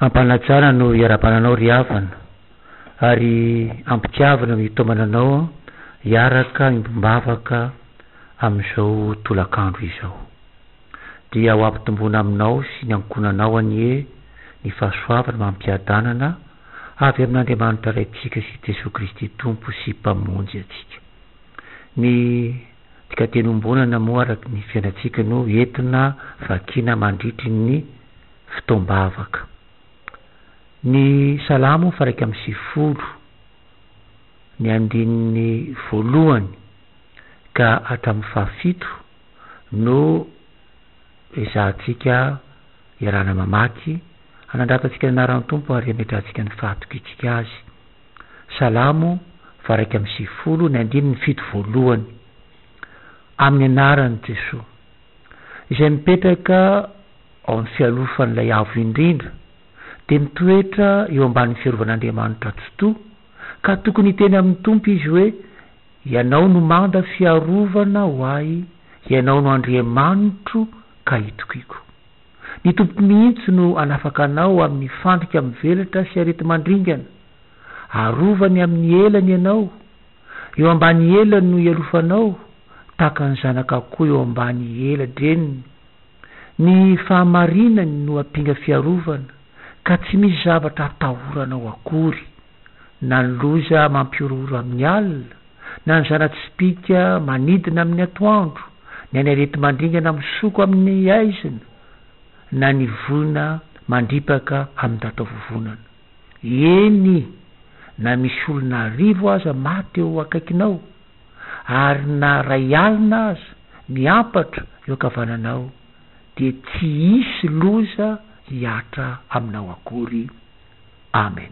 Ampanajana no iarahabana anao ry havana ary ampitiavina no itaomana anao hiaraka miombom-bavaka amin'izao tolakandro izao. Dia ho ampitomboina aminao sy ny ankohonanao anie ny fahasoavana amam-piadanana avy amin'Andriamanitra Raintsika sy Jesoa Kristy Tompo sy Mpamonjy antsika. Ny dikateny iombonana moa araka ny fiainantsika no entina vakiana mandritry ny. fotoam-bavaka. Ny Salamo faha iraika amby sivifolo, ny andininy voalohany ka hatramin'ny fahafito no ezahantsika iarahana mamaky, hanandratantsika ny anaran'ny Tompo ary hametrahantsika ny fahatokitsika Azy. Salamo faha iraika amby sivifolo, ny andininy fito voalohany, Amin'ny anaran'i Jesoa. izay mipetraka ao amin'ny fialofan'ilay Avo Indrindra, dia mitoetra eo ambanin'ny fiarovan'Andriamanitra Tsitoha, ka tokony hiteny amin'ny Tompo izy hoe, Ianao no manda fiarovana ho ahy, Ianao no Andriamanitro ka itokiko. Ny Tompo mihitsy no hanafaka anao amin'ny fandrika mivelatra sy areti-mandringana. Arovany amin'ny elany ianao. Eo ambany elany no hialofanao, tahaka ny zanaka koa eo ambany ela-dreniny. Ny fahamarinany no ampinga fiarovana, ka tsy misy zavatra hatahoranao akory, na ny loza mampihorohoro amin'ny alina, na ny zana-tsipìka manidina amin'ny atoandro, na ny areti-mandringana misoko amin'ny haizina, na ny voina mandripaka amin-datovovonana. Eny, na misy olona arivo aza maty eo akaikinao, ary na iray alina aza miampatra eo ankavananao, dia tsy hisy loza hihatra aminao akory. Amen.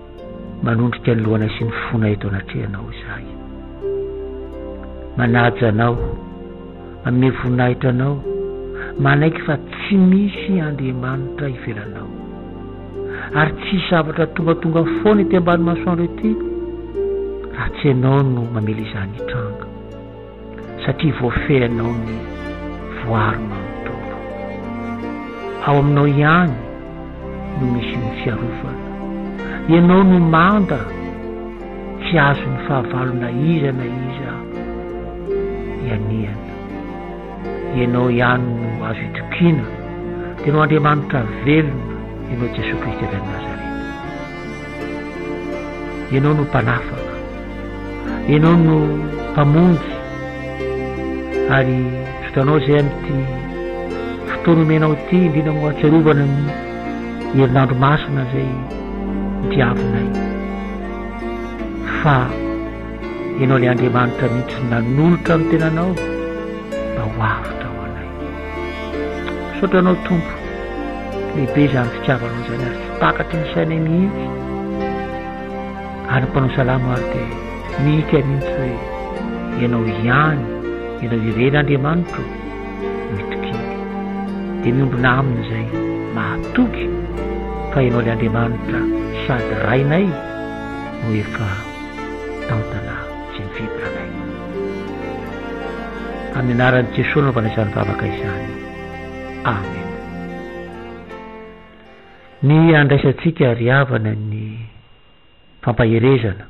Manondrika ny lohana sy ny fonay eto anatrehanao izahay. Manaja anao, manome voninahitra anao, manaiky fa tsy misy Andriamanitra ivelanao. Ary tsy hisy zavatra tongatonga foana ety ambany masoandro ety raha tsy ianao no mamela izany hitranga. satria voafehinao ny voaro manontolo. Ao aminao ihany no misy ny fiarovana. Ianao no manda, tsy azon'ny fahavalo na iza na iza ianiana. Ianao ihany no azo itokiana, tena ho Andriamanitra velona ianao Jesoa Kristy avy any Nazareta. Ianao no Mpanafaka. Ianao no Mpamonjy. Ary Zotanao izay amin'ity fotoana omenao ity, indrindra moa ahatsiarovana ny herinandro masina izay diavinay, fa Ianao ilay Andriamanitra mihitsy nanolotra ny Tenanao mba ho avotra ho anay. Misaotra anao Tompo, lehibe izany fitiavanao izany ary tsy takatry ny sainay mihitsy, ary ny mpanao salamo ary dia mihika mihitsy hoe Ianao ihany, Ianao irery Andriamanitro ô, no itokiny, dia miombona aminy izay mahatoky fa Ianao ilay Andriamanitra sady Rainay no efa tantanà. sy ny fihibranay. Amin'ny anaran'i Jesoa anaovana izany vavaka izany. Amen. Ny andraisantsika ry havana ny fampaherezana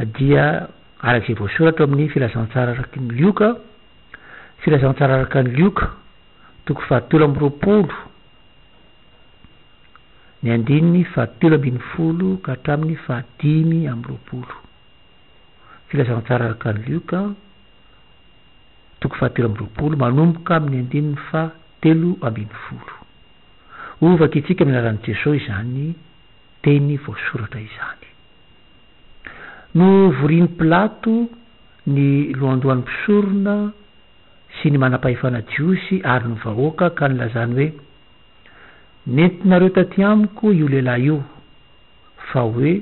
dia araka izay voasoratra amin'ny filazantsara araka ny Lioka, filazantsara araka ny Lioka, toko fahatelo amby roapolo, ny andininy fahatelo ambin'ny folo ka hatramin'ny fahadimy amby roapolo. Filazantsara araka ny Lioka, toko fahatelo amby roapolo, manomboka amin'ny andininy fahatelo ambin'ny folo. Ho vakintsika amin'ny anaran'i Jesoa izany teny voasoratra izany. Novorian'i Pilato ny lohandohan'ny mpisorona, sy ny manam-pahefana jiosy ary ny vahoaka ka nilazany hoe, Nentinareo tatỳ amiko io lehilahy io, fa hoe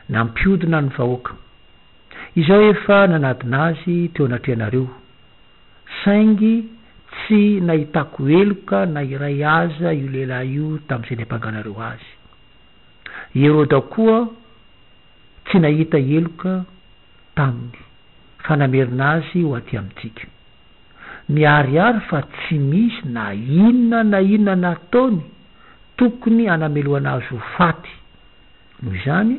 nampiodina ny vahoaka. Izaho efa nanadina azy teo anatrehanareo, saingy tsy nahitako heloka na iray aza io lehilahy io tamin'izay niampanganareo azy. I Heroda koa, tsy nahita heloka taminy fa namerina azy ho aty amintsika. Miharihary fa tsy misy na inona na inona nataony tokony hanamelohana azy ho faty. Noho izany,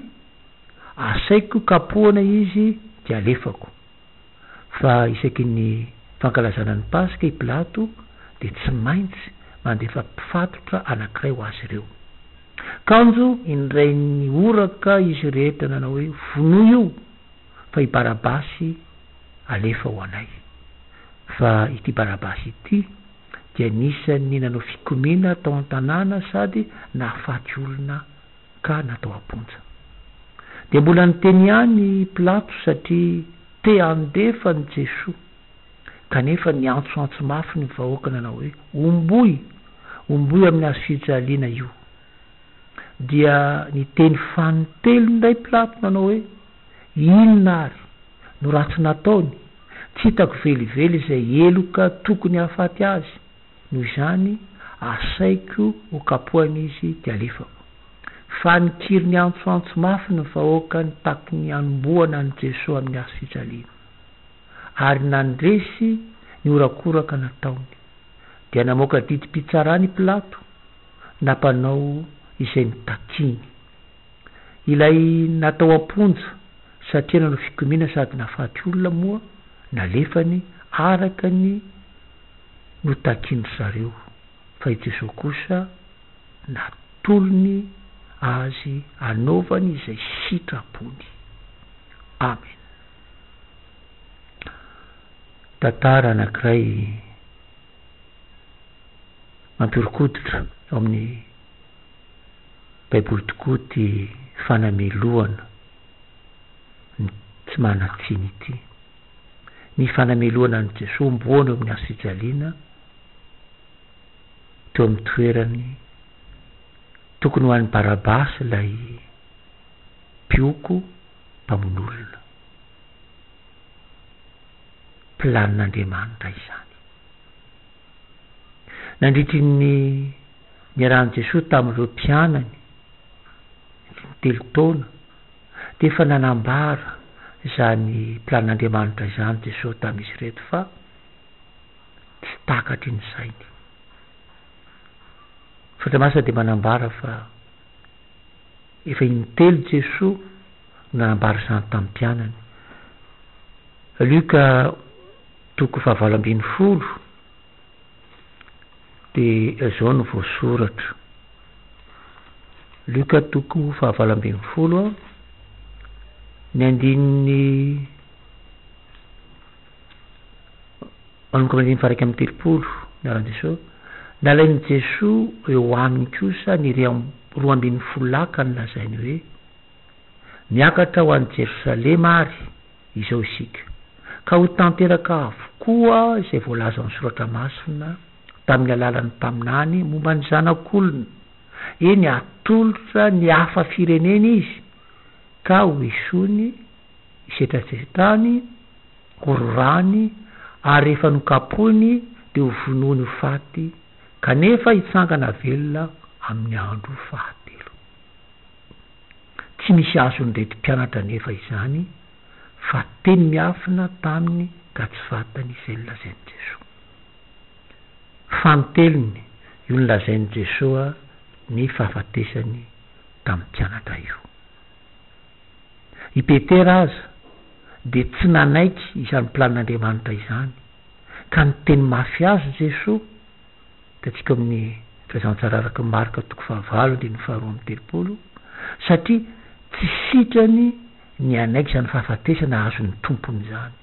asaiko kapohana izy dia alefako. fa isaky ny fankalazana ny Paska i Pilato dia tsy maintsy mandefa mpifatotra anankiray ho azy ireo. Kanjo indray nihoraka izy rehetra nanao hoe, Vonoy io, fa i Barabasy alefa ho anay. Fa ity Barabasy ity dia anisan'ny nanao fikomiana tao an-tanàna sady nahafaty olona ka natao am-ponja. Dia mbola niteny ihany i Pilato satria te handefa an'i Jesoa. Kanefa niantsoantso mafy ny vahoaka nanao hoe, Omboy! Omboy amin'ny hazofijaliana io! Dia niteny fanintelo indray Pilato nanao hoe, Inona àry no ratsy nataony? Tsy hitako velively izay heloka tokony hahafaty azy. Noho izany, asaiko ho kapohina izy dia alefako. Fa nikiry niantsoantso mafy ny vahoaka nitaky ny hanombohana an'i Jesoa amin'ny hazo fijaliana. Ary nandresy ny horakoraka nataony. Dia namoaka didim-pitsarana i Pilato, nampanao izay notakiany. Ilay natao am-ponja satria nanao fikomiana sady nahafaty olona moa nalefany araka ny. no takin-dry zareo, fa i Jesoa kosa natolony azy hanaovany izay sitrapony. Amen. Tantara anankiray mampihorokoditra ao amin'ny Baiboly tokoa ity fanamelohana ny tsy manan-tsiny ity. ny fanamelohana an'i Jesoa omboana eo amin'ny hazofijaliana teo amin'ny toerany, tokony ho an'i Barabasy ilay mpioko mpamonolona. Planin'Andriamanitra izany. Nandritry ny niarahan'i Jesoa tamin'ireo mpianany, niteny telo taona, Dia efa nanambara izany plan'Andriamanitra izany Jesosy tamin'izy ireto fa tsy takatry ny sainy. Ny Soratra Masina dia manambara fa efa in-telo Jesosy no nanambara izany tamin'ny mpianany. Luka toko fahavalo ambin'ny folo. Dia izao no voasoratra. Luka toko fahavalo ambin'ny folo, ny andininy manomboka amin'ny faraka amin'ny telopolo, miara-Jesoa. Nalain'i Jesoa eo aminy kosa ny roa ambin'ny folo lahy ka nolazainy hoe, Miakatra ho any Jerosalema ary, izao isika, ka ho tanteraka avokoa izay voalazan'ny Soratra Masina tamin'ny alalan'ny mpaminany momba ny Zanak'olona, eny, hatolotra ny hafa firenena izy, ka hoesoiny, hisetrasetrany, hororany, ary rehefa nokapohiny dia hovonoiny ho faty, kanefa hitsangana velona amin'ny andro fahatelo. Tsy misy azon'ireto mpianatra anefa izany fa teny miafina taminy ka tsy fantany izay nolazain'i Jesoa. Fanintelony io nolazain'i Jesoa ny fahafatesany tamin'ny mpianatra io. I Petera aza dia tsy nanaiky izany planin'Andriamanitra izany ka niteny mafy azy Jesoa. Hitantsika ao amin'ny Fahazantsara araka Marka toko fahavalo andininy faharoa amby telopolo, satria tsy sitrany ny hanaiky izany fahafatesana azon' ny Tompony izany.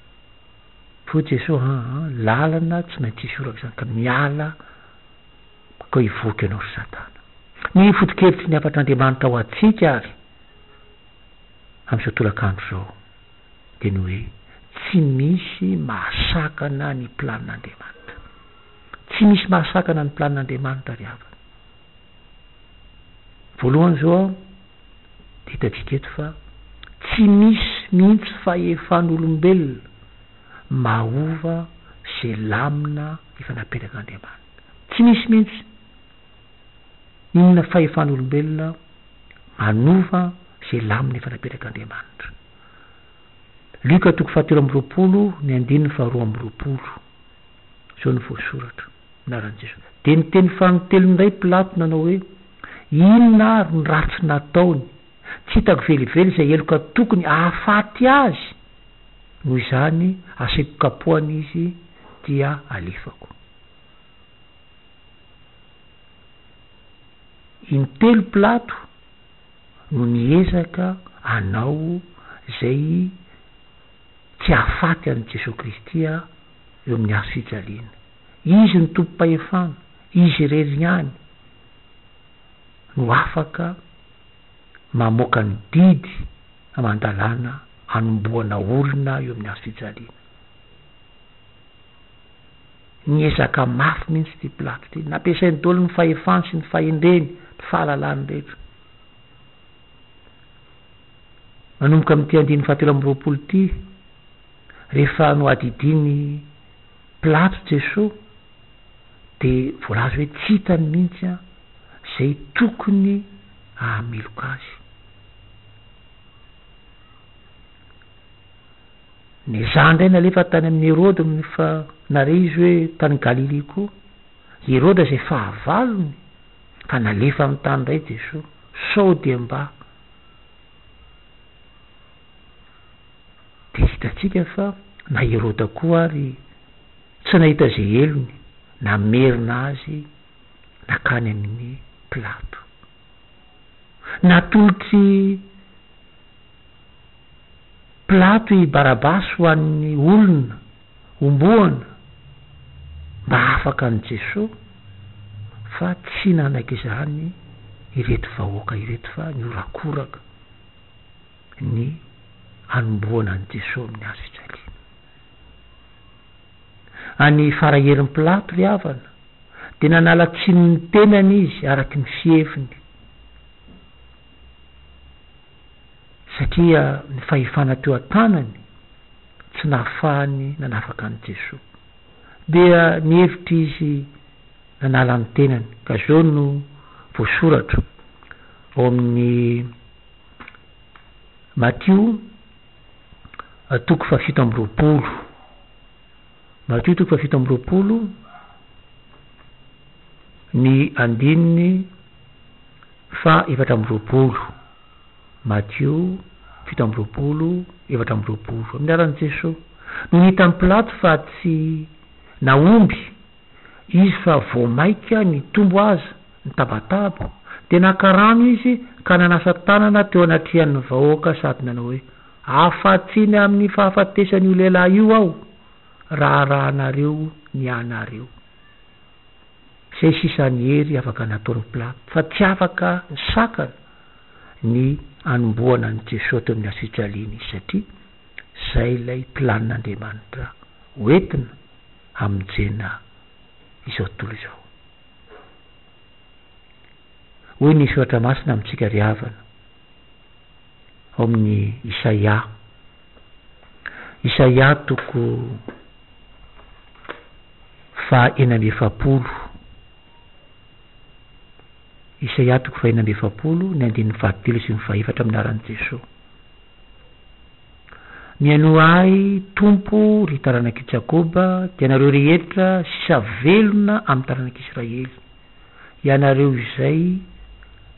Hoy Jesoa, Aa, lalana tsy maintsy hisy orak'izany, ka miala bakao hivoaka ianao ry Satana. Ny foto-kevitry ny hafatr' Andriamanitra ho antsika ary amin'izao tolakandro izao dia ny hoe, Tsy misy mahasakana ny planin'Andriamanitra. Tsy misy mahasakana ny planin'Andriamanitra ry havana. Voalohany izao aho dia hitantsika eto fa tsy misy mihitsy fahefan'olombelona mahova izay lamina efa napetrakan'Andriamanitra. Tsy misy mihitsy. Inona fahefan'olombelona manova izay lamina efa napetrakan'Andriamanitra. Lioka toko fahatelo amby roapolo ny andininy faharoa amby roapolo. Izao no voasoratra, anaran'i Jesoa. Dia niteny faran'ny telony indray Pilato nanao hoe, Inona ary ny ratsy nataony? Tsy hitako velively izay heloka tokony hahafaty azy. Noho izany asiko kapohana izy dia alefako. Intelo Pilato. no niezaka hanao izay tsy hahafaty an'i Jesoa Kristy aho eo amin'ny hazo fijaliana. Izy no tompom-pahefana, Izy irery ihany no afaka mamoaka ny didy aman-dalàna hanombohana olona eo amin'ny hazo fijaliana. Niezaka mafy mihitsy ity Platy ity. Nampiasainy daholo ny fahefany sy ny fahendreny, ny fahalalany rehetra. Manomboka amin'ity andininy fahatelo amby roapolo ity, rehefa nohadidin'i Plato Jesoa, dia voalaza hoe tsy hitany mihitsy an, izay tokony hahameloka azy. Ny zany indray nalefa tany amin'i Herode fa nare izy hoe tany Galilia koa. I Herode izay fahavalony fa nalefany tany indray Jesoa sao dia mba Dia hitantsika fa na i Herode koa ary tsy nahita izay helony, namerina azy nakany amin'i Pilato. Natolotr'i. Pilato i Barabasy ho an'ny olona homboana mba hahafaka an'i Jesoa fa tsy nanaiky izany ireto vahoaka ireto fa nihorakoraka ny hanomboana an'i Jesoa amin'ny hazo fijaliana. Any Faraherin'i Pilato ry havana dia nanala tsiny ny tenany izy araka ny fiheviny. satria ny fahefana teo an-tanany tsy nahafahany nanafaka an'i Jesoa. Dia nihevitra izy nanala ny tenany, ka izao no voasoratra ao amin'ny Matio toko fahafito amby roapolo, Matio toko fahafito amby roapolo, ny andininy Faha efatra amby roapolo, Matio fito amby roapolo, efatra amby roapolo, Amin'ny anaran'i Jesoa, nony hitan'i Pilato fa tsy nahomby Izy fa vao maika nitombo aza ny tabataba, dia naka rano Izy ka nanasa tanana teo anatrehan'ny vahoaka sady nanao hoe, Afa-tsy ny amin'ny fahafatesan'io lehilahy io aho, raharahanareo ny anareo. Zay sisa ny hery afaka nataon'ny Plato fa tsy afaka nisakana ny hanombohana an'i Jesoa teo amin'ny Asyjalia nisy satria zay ilay planin'Andriamanitra hoentina hamonjena izao tontolo izao. Hoy ny Soratra Masina amintsika ry havana. ao amin'ny Isaia. Isaia toko faha enina amby efapolo. Isaia toko faha enina amby efapolo ny andininy fahatelo sy ny fahefatra amin'ny anaran'i Jesoa. Mihainoa ahy Tompo ry taranak'i Jakoba, dia ianareo rehetra sisa velona amin'ny taranak'i Israely. ianareo izay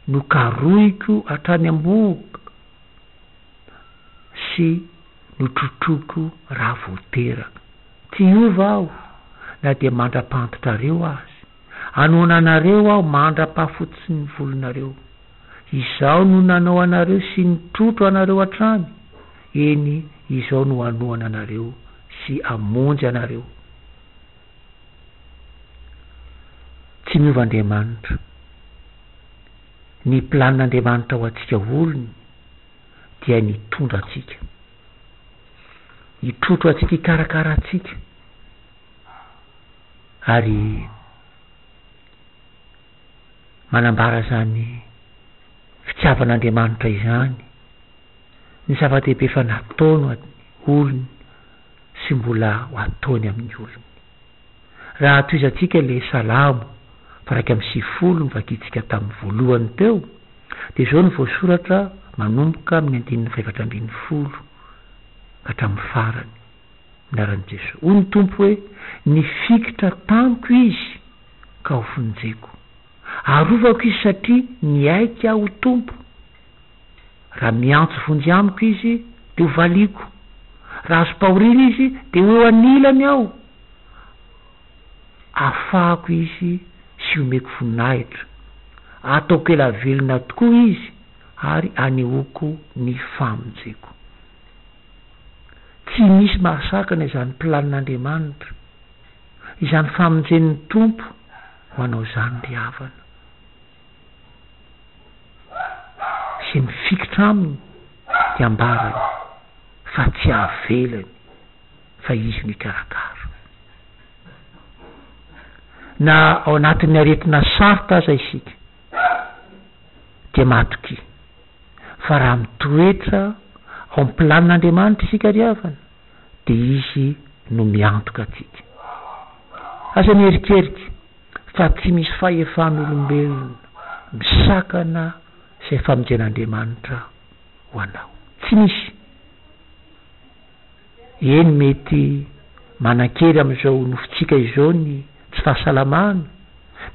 no karohiko hatrany am-bohoka sy notrotroiko raha vao teraka. Tsy hiova aho na dia mandra-pahantotrareo aza. Hanoana anareo aho mandra-pahafototsin'ny volonareo. Izaho no nanao anareo sy nitrotro anareo hatrany, eny, izaho no hanoana anareo sy hamonjy anareo. Tsy niova Andriamanitra. Ny plan Andriamanitra ho antsika olony dia ny hitondra antsika. Hitrotro antsika hikarakara antsika. Ary manambara izany fitiavan Andriamanitra izany ny zava-dehibe fa nataony ho an'ny olony. sy mbola ho ataony amin'ny olony. Raha tohizantsika ilay Salamo faha iraika amby sivifolo novakiantsika tamin'ny voalohany teo dia izao no voasoratra manomboka amin'ny andininy fahefatra ambin'ny folo ka hatramin'ny farany, Minaran'i Jesoa. Hoy ny Tompo hoe, Nifikitra tamiko izy ka ho vonjeko. Arovako izy satria niaiky ahy ho Tompo. Raha miantso vonjy amiko izy, dia hovaliako, raha azom-pahoriana izy, dia ho eo anilany aho, hafahako izy sy homeko voninahitra. Hataoko ela velona tokoa izy ary hanehoako ny famonjeko. Tsy misy mahasakana izany planin'Andriamanitra, izany famonjen'ny Tompo ho anao izany ry havana. sy mifikitra aminy dia ambarany fa tsy avelany fa izy no hikarakara. Na ao anatin'ny aretina sarotra aza isika dia matokia fa raha mitoetra ao amin'ny planin'Andriamanitra isika ry havana, dia Izy no miantoka antsika. Aza mierikerika fa tsy misy fahefan'olombelona misakana izay famonjen'Andriamanitra ho anao. Tsy misy. Eny, mety manan-kery amin'izao nofontsika izao ny tsy fahasalamana,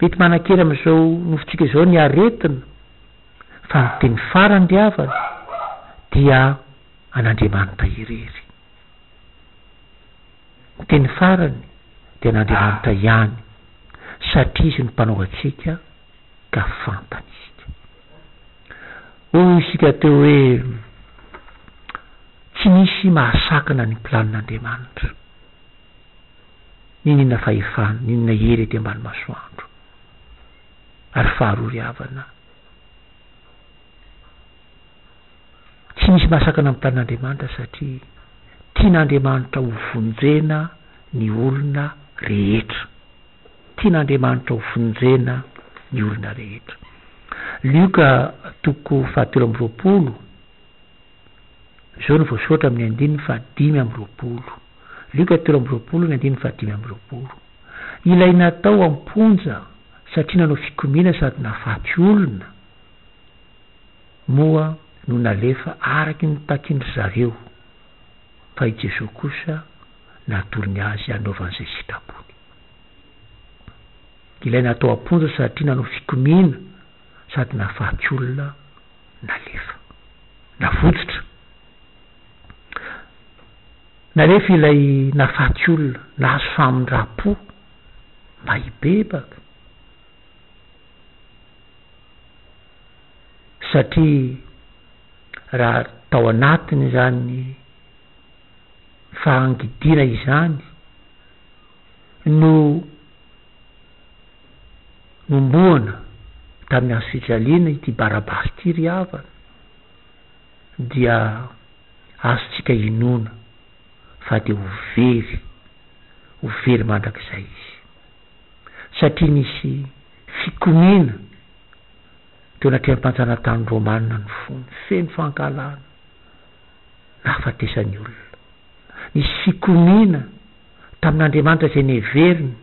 mety manan-kery amin'izao nofontsika izao ny aretina, fa ny teny farany ry havana dia, an'Andriamanitra irery. Ny teny farany dia an'Andriamanitra ihany, satria Izy no Mpanao antsika ka fantany isika. Hoy isika teo hoe, Tsy misy mahasakana ny planin'Andriamanitra. N'inon'inona fahefana, n'inona hery ety ambany masoandro, ary faharory havana, Tsy misy mahasakana amin'ny tanin'Andriamanitra satria tian'Andriamanitra ho vonjena ny olona rehetra. Tian'Andriamanitra ho vonjena ny olona rehetra. Lioka toko fahatelo amby roapolo, izao no voasoratra amin'ny andininy fahadimy amby roapolo. Lioka telo amby roapolo ny andininy fahadimy amby roapolo. Ilay natao am-ponja satria nanao fikomiana sady nahafaty olona, moa no nalefa araky ny takin-dry zareo, fa i Jesoa kosa natorony azy hanaovany izay sitrapony. Ilay natao am-ponja satria nanao fikomiana sady nahafaty olona nalefa. Navotsotra. Nalefa ilay nahafaty olona, nahazo famindram-po mba hibebaka. satria raha tao anatin'izany fahangidiana izany no nombohana tamin'ny hazo fijaliana ity barabara ity ry havana dia azontsika inoana fa dia ho very, ho very mandrakizay izy. satria nisy fikomiana teo anatrehan'ny mpanjanatany romanina ny fony, feno fankahalana, nahafatesan'ny olona. Nisy fikomiana tamin'Andriamanitra izay neveriny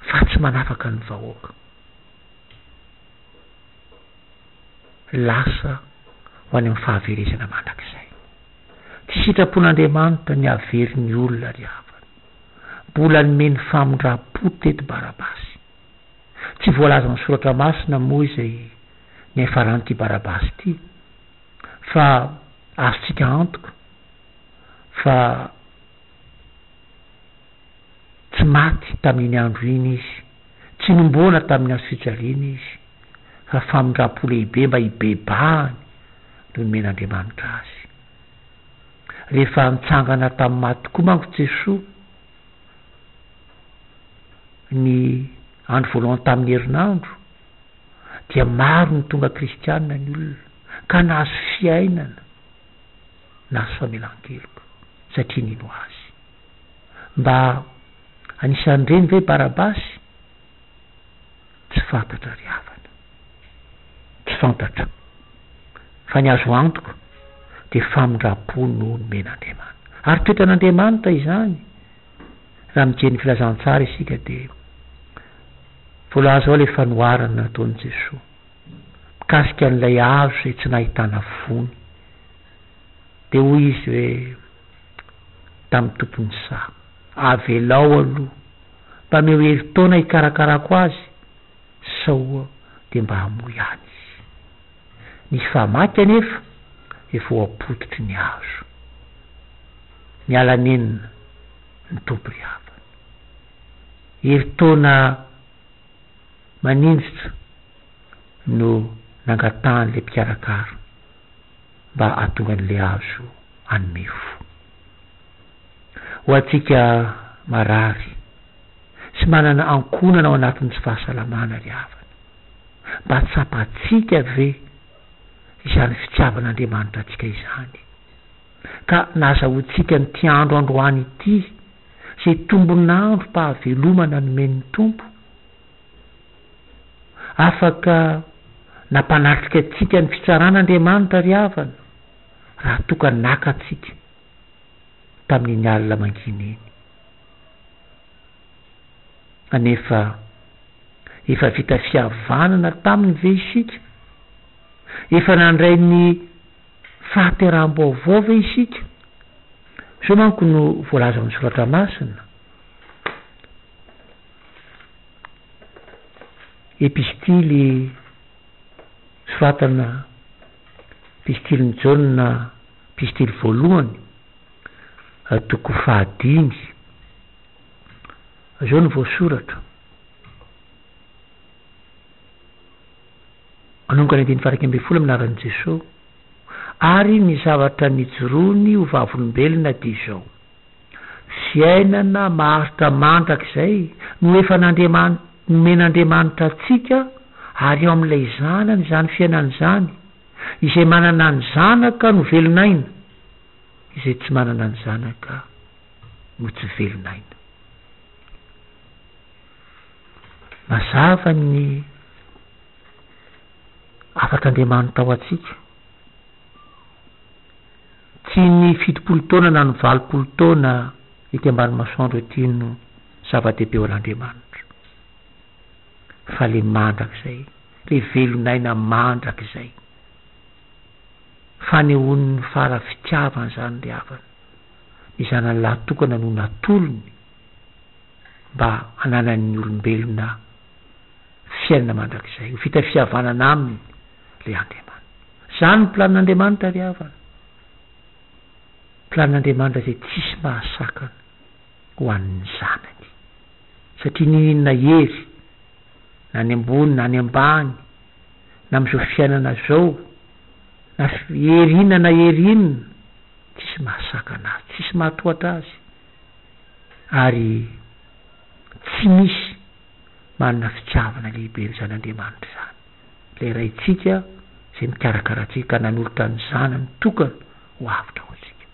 fa tsy manafaka ny vahoaka. Lasa ho any amin'ny fahaverezana mandrakizay. Tsy sitrapon'Andriamanitra ny havery ny olona ry havana. Mbola nomeny famindram-po teto Barabasy. Tsy voalazan'ny soratra masina moa izay niafaran'ity Barabasy ity fa azontsika antoka fa tsy maty tamin'iny andro iny izy, tsy nomboana tamin'ny hazo fijaliana izy fa famindram-po lehibe mba hibebahany no nomen'Andriamanitra azy. Rehefa nitsangana tamin'ny maty tokoa manko Jesoa, ny andro voalohany tamin'ny herinandro, dia maro ny tonga kristianina ny olona, ka nahazo fiainana, nahazo famelan-keloka, satria nino Azy. Mba anisan'ireny ve Barabasy? Tsy fantatra ry havana. Tsy fantatra. Fa ny azo antoka dia famindram-po no nomen'Andriamanitra. Ary toetran'Andriamanitra izany. Raha mijery ny Filazantsara isika dia voalaza ao ilay fanoharana nataon'i Jesoa mikasika an'ilay hazo izay tsy nahitana voany. Dia hoy izy hoe tamin'ny tompon'ny saha, avelao aloha mpaneo herintaona hikarakarako azy sao dia mba hamoy any izy. Ny famaky anefa dia voapototry ny hazo. Niala nenina ny Tompo ry havana. Herintaona maninjitra no nangatahan'ilay mpikarakara mba hahatonga an'ilay hazo hanome fo. Ho antsika marary sy manana ankohonana ao anatin'ny tsy fahasalamana ry havana, mba tsapantsika ve izany fitiavan'Andriamanitra antsika izany, ka nahazahoantsika an'ity andro androany ity, izay tombon'androm-pahavelomana nomen'ny Tompo? Afaka nampanatrika antsika ny fitsarana Andriamanitra ry havana. raha toa ka naka antsika tamin'iny alina mangina iny anefa efa vita fihavanana taminy ve isika? Efa nandray ny fahateraham-baovao ve isika? Izao manko no voalaza ao amin'ny Soratra Masina, Epistily soratana Epistilin'i Jaona, Epistily voalohany, toko fahadimy. Izao no voasoratra, Manomboka ny andininy faha-iraika ambin'ny folo amin'ny laharan'i Jesoa, ary ny zavatra nijoroany ho vavolombelona dia izao. Fiainana maharitra mandrakizay no efa nandriamanit nomen'Andriamanitra antsika ary ao amin'ilay Zanany izany fiainana izany, izay manana ny Zanaka no velon'aina, izay tsy manana ny Zanaka no tsy velon'aina. Mazava ny hafatr'Andriamanitra ho antsika. Tsy ny fitopolo taona na ny valopolo taona ety ambany masoandro ety no zava-dehibe ho an'Andriamanitra, fa le mandrakizay, le velon'aina mandrakizay. Fanehoan'ny Fara fitiavana izany ry havana, ny Zanany lahy tokana no natolony mba hananan'ny olombelona. fiainana mandrakizay, ho vita fihavanana Aminy ilay Andriamanitra. Izany ny planin'Andriamanitra, ry havana. Planin'Andriamanitra izay tsisy mahasakana ho an'ny zanany. Satria n'ino ino na hery, na any ambony na any ambany, na amin'izao fiainana izao, na hery inona na hery inona, tsisy mahasakana Azy, tsisy mahatohatra Azy. Ary. Tsy misy manana fitiavana lehibe ny Zanandriamanitra izany, ilay Raintsika izay mikarakara antsika ka nanolotra ny Zanany tokana ho avotra ho antsika.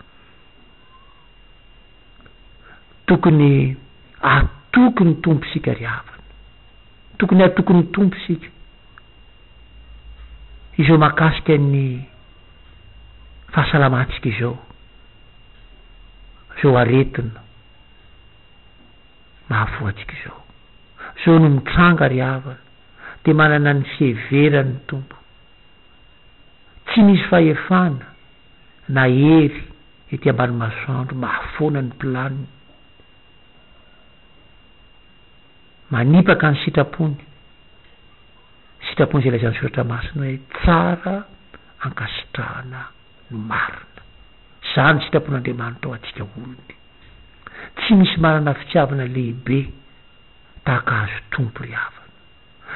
Tokony hatoky ny Tompo isika ry havana. Tokony hatoky ny Tompo isika. Izao mahakasika ny fahasalamantsika izao, izao aretina. mahavoantsika izao. Zao no mitranga ry havana dia manana ny fiheverany ny Tompo. Tsy misy fahefana na hery ety ambany masoandro mahafoana ny planiny. Manipaka ny sitrapony, sitrapony izay lazain'ny soratra masina hoe tsara ankasitrahana ny marina. Izany sitrapon'Andriamanitra ho antsika olony. Tsy misy manana fitiavana lehibe tahaka ahazo Tompo ry havana,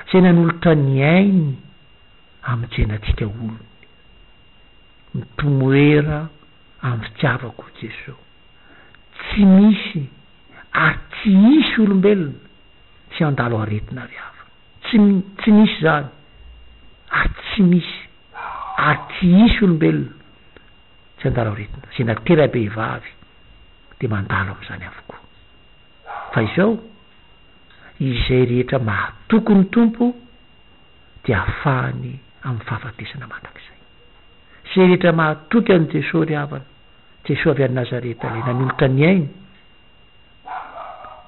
izay nanolotra ny ainy hamonjena antsika olony. Mitomoera amin'ny fitiavako i Jeso. Tsy misy ary tsy hisy olombelona tsy handalo aretina ry havana. Tsy, tsy misy izany ary tsy misy. ary tsy hisy olombelona tsy handalo aretina, izay natera-behivavy dia mandalo amin'izany avokoa. Fa izao, izay rehetra mahatoky ny Tompo dia hafahany amin'ny fahafatesana mandrakizay. Izay rehetra mahatoky an'i Jesoa ry havana, Jesoa avy any Nazareta ilay nanolotra ny ainy,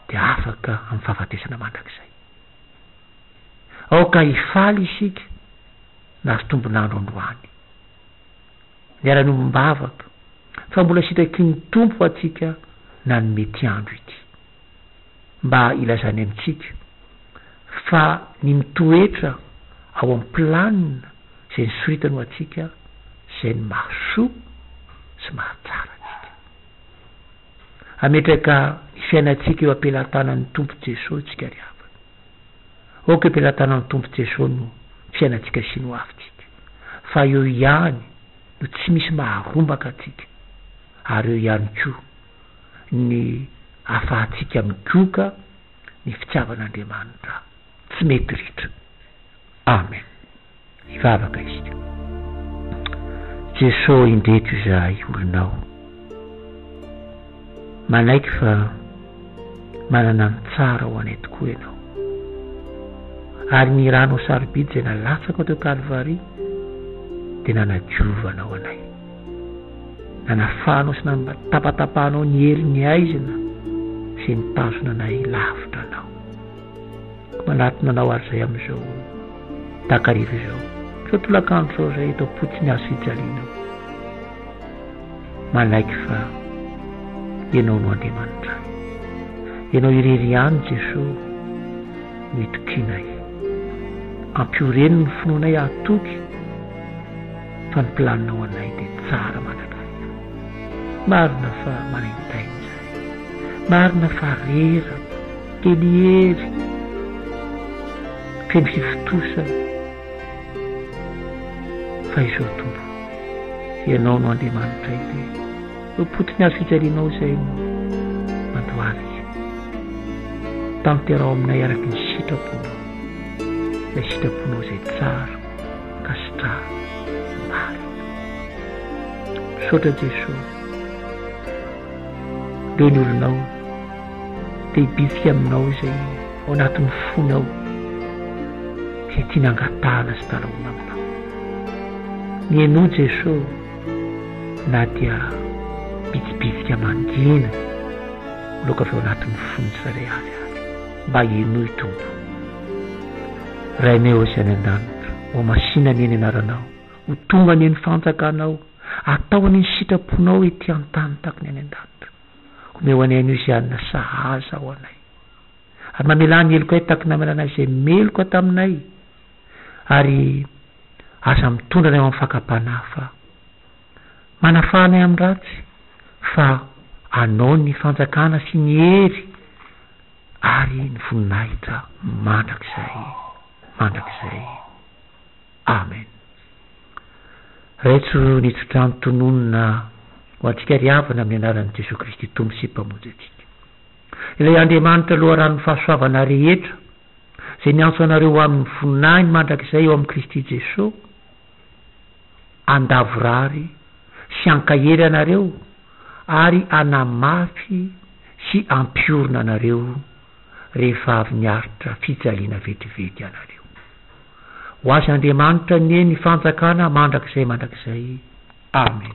dia afaka amin'ny fahafatesana mandrakizay. Aoka hifaly isika. Last ombon'andro androany. Miala ny ombom-bavaka fa mbola sitrakin'ny Tompo antsika nanome ity andro ity mba hilazany amintsika fa ny mitoetra ao amin'ny planina izay nisoritany ho antsika izay no mahasoa sy mahatsara antsika. Hametraka ny fiainantsika eo am-pelantanan'ny Tompo Jeso tsika ry havana. Aoka eo am-pelantanan'ny Tompo Jeso no fiainantsika sy ny hoavintsika, fa eo ihany no tsy misy maharombaka antsika, ary eo ihany koa ny afahantsika migoka ny fitiavan'Andriamanitra tsy mety ritra. Amen! Hivavaka isika. Jeso ô indreto izahay olonao. Manaiky fa manana ny tsara ho anay tokoa Ianao. Ary ny Ranao sarobidy izay nalatsakao teo Kalvary dia nanadiova Anao anay. Nanafahanao sy nampatapatapahanao ny hery ny haizina izay nitazona anay lavitra Anao. Manatona anao ary izay amin'izao takariva izao. Izao tolakandro izao izay eto am-potsiny azo fijaliana aho. Manaiky fa Ianao no Andriamanitra ahy. Ianao irery ihany Jesoa no itokianay. Ampio reny ny finoanay hahatoky fa ny planinao anay dia tsara mandrakariva. Marina fa maraintaina izany. Marina fa rera, dia ny hery feno hivontosana, fa izao Tompo o, Ianao no Andriamanitray dia eo am-potony hazo fijalianao izay no mandohalika. Tanteraho aminay araka ny sitraponao, ilay sitraponao izay tsara ka sitraho marina. Misaotra Jeso. Reny olonao te hibitsika aminao izay ao anatin'ny fony ao, izay tiany hangatahana sy dalahoana aminao. Mihainoa Jeso na dia bitsibitsika mangina loaka avy ao anatin'ny fon'ny tsirairay avy ary. Mba henoy Tompo. Raineo izay any an-danitra, ho masina anie ny anaranao, ho tonga anie ny fanjakanao. Atao any ny sitraponao ety an-tany tahaka ny any an-danitra. Omeo anay anio izay hanina sahaza ho anay. Ary mamelà ny helokay tahaka ny namelanay izay meloka taminay, ary aza mitondra anay ho amin'ny fakam-panahy fa manafaha anay amin'ny ratsy, fa anao ny fanjakana sy ny hery ary ny voninahitra mandrakizay mandrakizay. Amen. Raitso ny tsodrano tononina ho antsika ry havana amin'ny anaran'i Jesoa Kristy Tompo sy Mpamonjy antsika. Ilay Andriamanitra loharanon'ny fahasoavana rehetra, izay miantso anareo ho amin'ny voninahiny mandrakizay ao amin'i Kristy Jesoa, handavorary sy hankahery anareo ary hanamafy sy hampiorina anareo. rehefa avy niaritra fijaliana vetivety ianareo. Ho azy Andriamanitra anie ny fanjakana mandrakizay mandrakizay. Amen.